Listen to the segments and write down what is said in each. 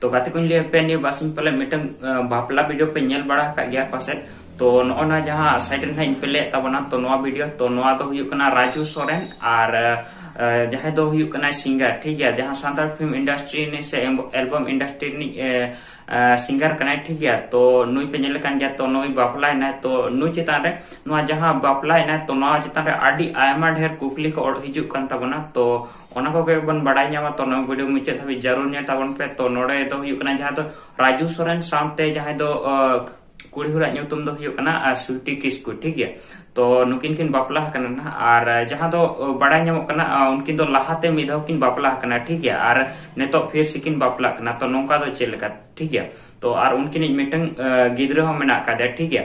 ᱛᱚ ᱜᱟᱛᱮ ᱠᱚᱧ ᱞᱟᱹᱭ ᱟᱯᱮᱭᱟ ᱱᱤᱭᱟᱹ ᱵᱟᱨᱥᱤᱧ ᱯᱟᱞᱮ ᱢᱤᱫᱴᱟᱝ ᱵᱟᱯᱞᱟ ᱵᱷᱤᱰᱤᱭᱳ ᱯᱮ ᱧᱮᱞ ᱵᱟᱲᱟ ᱟᱠᱟᱫ ᱜᱮᱭᱟ ᱯᱟᱥᱮᱡ ᱛᱚ ᱱᱚᱜᱼᱚ ᱱᱟ ᱡᱟᱦᱟᱸ ᱥᱟᱭᱤᱰ ᱨᱮ ᱱᱟᱦᱟᱜ ᱯᱮ ᱞᱟᱹᱭᱮᱫ ᱛᱟᱵᱚᱱᱟ ᱛᱚ ᱱᱚᱣᱟ ᱵᱷᱤᱰᱤᱭᱳ ᱛᱚ ᱱᱚᱣᱟ ᱫᱚ ᱦᱩᱭᱩᱜ ᱠᱟᱱᱟ ᱨᱟᱡᱩ ᱥᱚᱨᱮᱱ ᱟᱨ ᱡᱟᱦᱟᱸᱭ ᱫᱚ ᱦᱩᱭᱩᱜ ᱠᱟᱱᱟ ᱥᱤᱝᱜᱟᱨ ᱴᱷᱤᱠ ᱜᱮᱭᱟ ᱡᱟᱦᱟᱸ ᱥᱟᱱᱛᱟᱲ ᱯᱷᱤᱞᱢ ᱤᱱᱰᱟᱥᱴᱨᱤ ᱨᱤᱱᱤᱡ ᱥᱮ ᱮᱞᱵᱟᱢ ᱤᱱᱰᱟᱥᱴᱨᱤ ᱨᱤᱱᱤᱡ ᱥᱤᱝᱜᱟᱨ ᱠᱟᱱᱟᱭ ᱴᱷᱤᱠ ᱜᱮᱭᱟ ᱛᱚ ᱱᱩᱭ ᱯᱮ ᱧᱮᱞ ᱠᱟᱱ ᱜᱮᱭᱟ ᱛᱚ ᱱᱩᱭ ᱵᱟᱯᱞᱟᱭᱮᱱᱟᱭ ᱛᱚ ᱱᱩᱭ ᱪᱮᱛᱟᱱ ᱨᱮ ᱱᱚᱣᱟ ᱡᱟᱦᱟᱸ ᱵᱟᱯᱞᱟᱭᱮᱱᱟᱭ ᱛᱚ ᱱᱚᱣᱟ ᱪᱮᱛᱟᱱ ᱨᱮ ᱟᱹᱰᱤ ᱟᱭᱢᱟ ᱰᱷᱮᱨ ᱠᱩᱠᱞᱤ ᱠᱚ ᱦᱤᱡᱩᱜ ᱠᱟᱱ ᱛᱟᱵᱚᱱᱟ ᱛᱚ ᱚᱱᱟ ᱠᱚᱜᱮ ᱵᱚᱱ ᱵᱟᱰᱟᱭ ᱧᱟᱢᱟ ᱛᱚ ᱱᱚᱣᱟ ᱵᱷᱤᱰᱤᱭᱳ ᱢᱩᱪᱟᱹᱫ ᱫᱷᱟᱹᱵᱤᱡ ᱡᱟᱹᱨᱩᱲ ᱧᱮᱞ ᱛᱟᱵᱚᱱ ᱯᱮ ᱛᱚ ᱱᱚᱰᱮ ᱫᱚ ᱦᱩᱭᱩᱜ ᱠᱟᱱᱟ ᱡᱟᱦᱟᱸ ᱫᱚ ᱨᱟᱡᱩ ᱥᱚᱨᱮᱱ ᱥᱟᱶᱛᱮ ᱡᱟᱦᱟᱸᱭ ᱫᱚ ᱠᱩᱲᱤ ᱦᱚᱲᱟᱜ ᱧᱩᱛᱩᱢ ᱫᱚ ᱦᱩᱭᱩᱜ ᱠᱟᱱᱟ ᱥᱩᱴᱤ ᱠᱤᱥᱠᱩ ᱴᱷᱤᱠ ᱜᱮᱭᱟ ᱛᱚ ᱱᱩᱠᱤᱱ ᱠᱤᱱ ᱵᱟᱯᱞᱟ ᱟᱠᱟᱱᱟ ᱱᱟᱦᱟᱜ ᱟᱨ ᱡᱟᱦᱟᱸ ᱫᱚ ᱵᱟᱰᱟᱭ ᱧᱟᱢᱚᱜ ᱠᱟᱱᱟ ᱩᱱᱠᱤᱱ ᱫᱚ ᱞᱟᱦᱟᱛᱮ ᱢᱤᱫ ᱫᱷᱟᱣ ᱠᱤᱱ ᱵᱟᱯᱞᱟ ᱟᱠᱟᱱᱟ ᱴᱷᱤᱠ ᱜᱮᱭᱟ ᱟᱨ ᱱᱤᱛᱚᱜ ᱯᱷᱤᱨ ᱥᱮ ᱠᱤᱱ ᱵᱟᱯᱞᱟ ᱟᱠᱟᱱᱟ ᱛᱚ ᱱᱚᱝᱠᱟ ᱫᱚ ᱪᱮᱫ ᱞᱮᱠᱟ ᱴᱷᱤᱠ ᱜᱮᱭᱟ ᱛᱚ ᱟᱨ ᱩᱱᱠᱤᱱᱤᱡ ᱢᱤᱫᱴᱟᱝ ᱜᱤᱫᱽᱨᱟᱹ ᱦᱚᱸ ᱢᱮᱱᱟᱜ ᱟᱠᱟᱫᱮᱭᱟ ᱴᱷᱤᱠ ᱜᱮᱭᱟ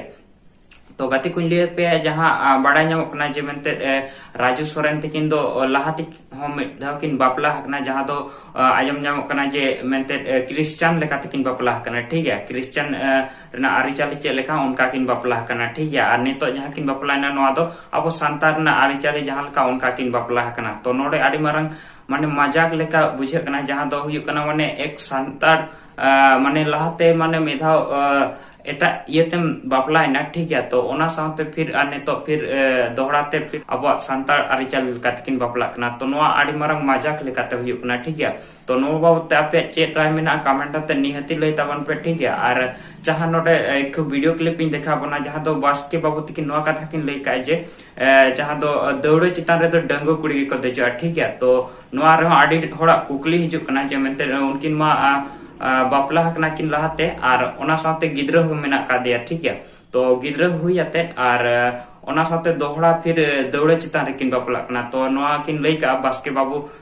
ᱛᱚ ᱜᱟᱛᱮ ᱠᱚᱧ ᱞᱟᱹᱭ ᱯᱮᱭᱟ ᱡᱟᱦᱟᱸ ᱵᱟᱲᱟᱭ ᱧᱟᱢᱚᱜ ᱠᱟᱱᱟ ᱡᱮ ᱢᱮᱱᱛᱮ ᱨᱟᱡᱩ ᱥᱚᱨᱮᱱ ᱛᱟᱹᱠᱤᱱ ᱫᱚ ᱞᱟᱦᱟᱛᱮ ᱦᱚᱸ ᱢᱤᱫ ᱫᱷᱟᱣ ᱠᱤᱱ ᱵᱟᱯᱞᱟ ᱟᱠᱟᱱᱟ ᱡᱟᱦᱟᱸ ᱫᱚ ᱟᱸᱡᱚᱢ ᱧᱟᱢᱚᱜ ᱠᱟᱱᱟ ᱡᱮ ᱢᱮᱱᱛᱮ ᱠᱨᱤᱥᱪᱟᱱ ᱞᱮᱠᱟᱛᱮ ᱠᱤᱱ ᱵᱟᱯᱞᱟ ᱟᱠᱟᱱᱟ ᱴᱷᱤᱠ ᱜᱮᱭᱟ ᱠᱨᱤᱥᱪᱟᱱ ᱨᱮᱱᱟᱜ ᱟᱹᱨᱤᱪᱟᱹᱞᱤ ᱪᱮᱫ ᱞᱮᱠᱟ ᱚᱱᱠᱟ ᱠᱤᱱ ᱵᱟᱯᱞᱟ ᱟᱠᱟᱱᱟ ᱴᱷᱤᱠ ᱜᱮᱭᱟ ᱟᱨ ᱱᱤᱛᱚᱜ ᱡᱟᱦᱟᱸ ᱠᱤᱱ ᱵᱟᱯᱞᱟᱭᱮᱱᱟ ᱱᱚᱣᱟ ᱫᱚ ᱟᱵᱚ ᱥᱟᱱᱛᱟᱲ ᱨᱮᱱᱟᱜ ᱟᱹᱨᱤᱪᱟᱹᱞᱤ ᱡᱟᱦᱟᱸ ᱞᱮᱠᱟ ᱚᱱᱠᱟ ᱠᱤᱱ ᱵᱟᱯᱞᱟ ᱟᱠᱟᱱᱟ ᱛᱚ ᱱᱚᱰᱮ ᱟᱹᱰᱤ ᱢᱟᱨᱟᱝ ᱢᱟᱱᱮ ᱢᱟᱡᱟᱠ ᱞᱮᱠᱟ ᱵᱩᱡᱷᱟᱹᱜ ᱠᱟᱱᱟ ᱡᱟᱦᱟᱸ ᱫᱚ ᱦᱩᱭᱩᱜ ᱠᱟᱱᱟ ᱢᱟᱱᱮ ᱮᱠ ᱥᱟᱱᱛᱟᱲ ᱢᱟᱱᱮ ᱞᱟᱦᱟᱛᱮ ᱢᱟᱱᱮ ᱢᱤᱫ ᱫᱷᱟᱣ ᱮᱴᱟᱜ ᱤᱭᱟᱹᱛᱮᱢ ᱵᱟᱯᱞᱟᱭᱮᱱᱟ ᱴᱷᱤᱠ ᱜᱮᱭᱟ ᱛᱚ ᱚᱱᱟ ᱥᱟᱶᱛᱮ ᱯᱷᱤᱨ ᱟᱨ ᱱᱤᱛᱚᱜ ᱯᱷᱤᱨ ᱫᱚᱦᱲᱟ ᱛᱮ ᱯᱷᱤᱨ ᱟᱵᱚᱣᱟᱜ ᱥᱟᱱᱛᱟᱲ ᱟᱹᱨᱤᱪᱟᱹᱞᱤ ᱞᱮᱠᱟ ᱛᱮᱠᱤᱱ ᱵᱟᱯᱞᱟᱜ ᱠᱟᱱᱟ ᱛᱚ ᱱᱚᱣᱟ ᱟᱹᱰᱤ ᱢᱟᱨᱟᱝ ᱢᱟᱡᱟᱠ ᱞᱮᱠᱟᱛᱮ ᱦᱩᱭᱩᱜ ᱠᱟᱱᱟ ᱴᱷᱤᱠ ᱜᱮᱭᱟ ᱛᱚ ᱱᱚᱣᱟ ᱵᱟᱵᱚᱛ ᱛᱮ ᱟᱯᱮᱭᱟᱜ ᱪᱮᱫ ᱨᱟᱭ ᱢᱮᱱᱟᱜᱼᱟ ᱠᱟᱢᱮᱱᱴ ᱟᱛᱮ ᱱᱤᱦᱟᱹᱛᱤ ᱞᱟᱹᱭ ᱛᱟᱵᱚᱱ ᱯᱮ ᱴᱷᱤᱠ ᱜᱮᱭᱟ ᱟᱨ ᱡᱟᱦᱟᱸ ᱱᱚᱰᱮ ᱮᱠ ᱵᱷᱤᱰᱤᱭᱳ ᱠᱞᱤᱯ ᱤᱧ ᱫᱮᱠᱷᱟᱣ ᱵᱚᱱᱟ ᱡᱟᱦᱟᱸ ᱫᱚ ᱵᱟᱥᱠᱮ ᱵᱟᱵᱚᱛ ᱛᱮᱠᱤᱱ ᱱᱚᱣᱟ ᱠᱟᱛᱷᱟ ᱠᱤᱱ ᱞᱟᱹᱭ ᱠᱟᱜᱼᱟ ᱡᱮ ᱡᱟᱦᱟᱸ ᱫᱚ ᱫᱟᱹᱣᱲᱟᱹ ᱪᱮᱛᱟᱱ ᱨᱮᱫᱚ ᱰᱟᱹᱝᱜᱩ ᱠᱩᱲᱤ ᱜᱮᱠᱚ ᱫᱮᱡᱚᱜᱼᱟ ᱴᱷᱤᱠ ᱜᱮᱭᱟ ᱛᱚ ᱱᱚᱣᱟ ᱨᱮᱦᱚᱸ ᱟᱹᱰᱤ ᱦᱚᱲᱟᱜ ᱠᱩᱠᱞᱤ ᱦᱤᱡᱩᱜ ᱠᱟᱱᱟ ᱡᱮ ᱢᱮᱱᱛᱮ ᱩᱱᱠᱤᱱ ᱢᱟ ᱵᱟᱯᱞᱟ ᱟᱠᱟᱱᱟ ᱠᱤᱱ ᱞᱟᱦᱟᱛᱮ ᱟᱨ ᱚᱱᱟ ᱥᱟᱶᱛᱮ ᱜᱤᱫᱽᱨᱟᱹ ᱦᱚᱸ ᱢᱮᱱᱟᱜ ᱠᱟᱫᱮᱭᱟ ᱴᱷᱤᱠ ᱜᱮᱭᱟ ᱛᱚ ᱜᱤᱫᱽᱨᱟᱹ ᱦᱩᱭ ᱟᱛᱮ ᱟᱨ ᱚᱱᱟ ᱥᱟᱶᱛᱮ ᱫᱚᱦᱲᱟ ᱯᱷᱤᱨ ᱫᱟᱹᱣᱲᱟᱹ ᱪᱮᱛᱟᱱ ᱨᱮᱠᱤᱱ ᱵᱟᱯᱞᱟᱜ ᱠᱟᱱᱟ ᱛᱚ ᱱᱚᱣᱟ ᱠᱤᱱ ᱞᱟᱹᱭ ᱠᱟᱜᱼᱟ ᱵᱟᱥᱠᱮ ᱵᱟᱵᱩ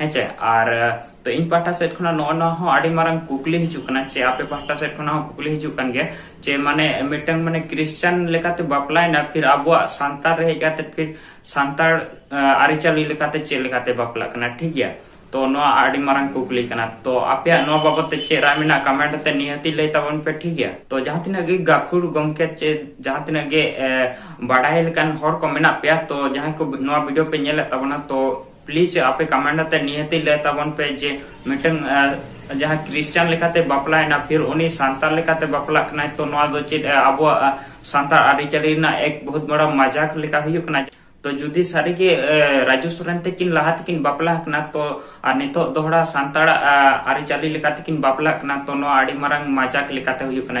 ᱦᱮᱸᱪᱮ ᱟᱨ ᱛᱚ ᱤᱧ ᱯᱟᱦᱴᱟ ᱥᱮᱫ ᱠᱷᱚᱱᱟᱜ ᱱᱚᱜᱼᱚ ᱱᱚᱣᱟ ᱦᱚᱸ ᱟᱹᱰᱤ ᱢᱟᱨᱟᱝ ᱠᱩᱠᱞᱤ ᱦᱤᱡᱩᱜ ᱠᱟᱱᱟ ᱪᱮ ᱟᱯᱮ ᱯᱟᱦᱴᱟ ᱥᱮᱫ ᱠᱷᱚᱱᱟᱜ ᱦᱚᱸ ᱠᱩᱠᱞᱤ ᱦᱤᱡᱩᱜ ᱠᱟᱱ ᱜᱮᱭᱟ ᱪᱮ ᱢᱟᱱᱮ ᱢᱤᱫᱴᱟᱝ ᱢᱟᱱᱮ ᱠᱨᱤᱥᱪᱟᱱ ᱞᱮᱠᱟᱛᱮ ᱵᱟᱯᱞᱟᱭᱮᱱᱟ ᱯᱷᱤᱨ ᱟᱵᱚᱣᱟᱜ ᱥᱟᱱᱛᱟᱲ ᱨᱮ ᱦᱮᱡ ᱠᱟᱛᱮ ᱯᱷᱤᱨ ᱥᱟᱱᱛᱟᱲ ᱟᱹᱨᱤᱪᱟᱹᱞᱤ ᱞᱮᱠᱟᱛᱮ ᱪᱮᱫ ᱞᱮᱠᱟᱛᱮ ᱵᱟᱯᱞᱟᱜ ᱠᱟᱱᱟ ᱴᱷᱤᱠ ᱜᱮᱭᱟ ᱛᱚ ᱱᱚᱣᱟ ᱟᱹᱰᱤ ᱢᱟᱨᱟᱝ ᱠᱩᱠᱞᱤ ᱠᱟᱱᱟ ᱛᱚ ᱟᱯᱮᱭᱟᱜ ᱱᱚᱣᱟ ᱵᱟᱵᱚᱛ ᱛᱮ ᱪᱮᱫ ᱨᱟᱭ ᱢᱮᱱᱟᱜ ᱠᱟᱢᱮᱱᱴ ᱟᱛᱮ ᱱᱤᱦᱟᱹᱛᱤ ᱞᱟᱹᱭ ᱛᱟᱵᱚᱱ ᱯᱮ ᱴᱷᱤᱠ ᱜᱮᱭᱟ ᱛᱚ ᱡᱟᱦᱟᱸ ᱛᱤᱱᱟᱹᱜ ᱜᱮ ᱜᱟᱹᱠᱷᱩᱲ ᱜᱚᱢᱠᱮ ᱪᱮ ᱡᱟᱦᱟᱸ ᱛᱤᱱᱟᱹᱜ ᱜᱮ ᱵᱟᱰᱟᱭ ᱞᱮᱠᱟᱱ ᱦᱚᱲ ᱠᱚ ᱢᱮᱱᱟᱜ ᱯᱮᱭᱟ ᱛᱚ ᱡᱟᱦᱟᱸᱭ ᱠᱚ ᱱᱚᱣᱟ ᱵᱷᱤᱰᱤᱭᱳ ᱯᱮ ᱧᱮᱞᱮᱫ ᱛᱟᱵᱚᱱᱟ ᱛᱚ ᱯᱞᱤᱡ ᱟᱯᱮ ᱠᱟᱢᱮᱱᱴ ᱟᱛᱮ ᱱᱤᱦᱟᱹᱛ ᱞᱟᱹᱭ ᱛᱟᱵᱚᱱ ᱯᱮ ᱡᱮ ᱢᱤᱫᱴᱟᱝ ᱡᱟᱦᱟᱸ ᱠᱨᱤᱥᱪᱟᱱ ᱞᱮᱠᱟᱛᱮ ᱵᱟᱯᱞᱟᱭᱮᱱᱟ ᱯᱷᱤᱨ ᱩᱱᱤ ᱥᱟᱱᱛᱟᱲ ᱞᱮᱠᱟᱛᱮ ᱵᱟᱯᱞᱟᱜ ᱠᱟᱱᱟᱭ ᱛᱚ ᱱᱚᱣᱟ ᱫᱚ ᱪᱮᱫ ᱟᱵᱚᱣᱟᱜ ᱥᱟᱱᱛᱟᱲ ᱟᱹᱨᱤᱪᱟᱹᱞᱤ ᱨᱮᱱᱟᱜ ᱮᱠ ᱵᱚᱦᱩᱛ ᱵᱚᱲᱟ ᱢᱟᱡᱟᱠ ᱞᱮᱠᱟ ᱦᱩᱭᱩᱜ ᱠᱟᱱᱟ ᱛᱚ ᱡᱩᱫᱤ ᱥᱟᱹᱨᱤᱜᱮ ᱨᱟᱡᱩ ᱥᱚᱨᱮᱱ ᱛᱮᱠᱤᱱ ᱞᱟᱦᱟ ᱛᱮᱠᱤᱱ ᱵᱟᱯᱞᱟ ᱠᱟᱱᱟ ᱛᱚ ᱟᱨ ᱱᱤᱛᱚᱜ ᱫᱚᱦᱲᱟ ᱥᱟᱱᱛᱟᱲ ᱟᱹᱨᱤᱪᱟᱹᱞᱤ ᱞᱮᱠᱟ ᱛᱮᱠᱤᱱ ᱵᱟᱯᱞᱟᱜ ᱠᱟᱱᱟ ᱛᱚ ᱱᱚᱣᱟ ᱟᱹᱰᱤ ᱢᱟᱨᱟᱝ ᱢᱟᱡᱟᱠ ᱞᱮᱠᱟᱛᱮ ᱦᱩᱭᱩᱜ ᱠᱟᱱᱟ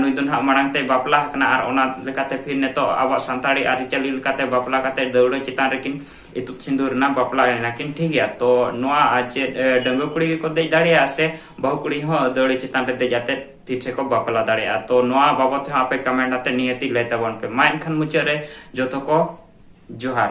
ᱱᱩᱭ ᱫᱚ ᱱᱟᱦᱟᱜ ᱢᱟᱲᱟᱝ ᱛᱮᱭ ᱵᱟᱯᱞᱟ ᱟᱠᱟᱱᱟ ᱟᱨ ᱚᱱᱟ ᱞᱮᱠᱟᱛᱮ ᱯᱷᱤᱨ ᱱᱤᱛᱚᱜ ᱟᱵᱚᱣᱟᱜ ᱥᱟᱱᱛᱟᱲᱤ ᱟᱹᱨᱤᱪᱟᱹᱞᱤ ᱞᱮᱠᱟᱛᱮ ᱵᱟᱯᱞᱟ ᱠᱟᱛᱮ ᱫᱟᱹᱣᱲᱟᱹ ᱪᱮᱛᱟᱱ ᱨᱮᱠᱤᱱ ᱤᱛᱩᱫ ᱥᱤᱸᱫᱩᱨ ᱮᱱᱟ ᱵᱟᱯᱞᱟ ᱮᱱᱟᱠᱤᱱ ᱴᱷᱤᱠ ᱜᱮᱭᱟ ᱛᱚ ᱱᱚᱣᱟ ᱪᱮᱫ ᱰᱟᱺᱜᱩᱣᱟᱹ ᱠᱩᱲᱤ ᱜᱮᱠᱚ ᱫᱮᱡ ᱫᱟᱲᱮᱭᱟᱜᱼᱟ ᱥᱮ ᱵᱟᱹᱦᱩ ᱠᱩᱲᱤ ᱦᱚᱸ ᱫᱟᱹᱣᱲᱟᱹ ᱪᱮᱛᱟᱱ ᱨᱮ ᱫᱮᱡ ᱟᱛᱮ ᱯᱷᱤᱨ ᱥᱮᱠᱚ ᱵᱟᱯᱞᱟ ᱫᱟᱲᱮᱭᱟᱜᱼᱟ ᱛᱚ ᱱᱚᱣᱟ ᱵᱟᱵᱚᱛ ᱦᱚᱸ ᱟᱯᱮ ᱠᱚᱢᱮᱱᱴ ᱟᱛᱮ ᱱᱤᱦᱟᱹᱛᱤ ᱞᱟᱹᱭ ᱛᱟᱵᱚᱱ ᱯᱮ ᱢᱟ ᱮᱱᱠᱷᱟᱱ ᱢᱩᱪᱟᱹᱫ ᱨᱮ ᱡᱚᱛᱚ ᱠᱚ ᱡᱚᱦᱟᱨ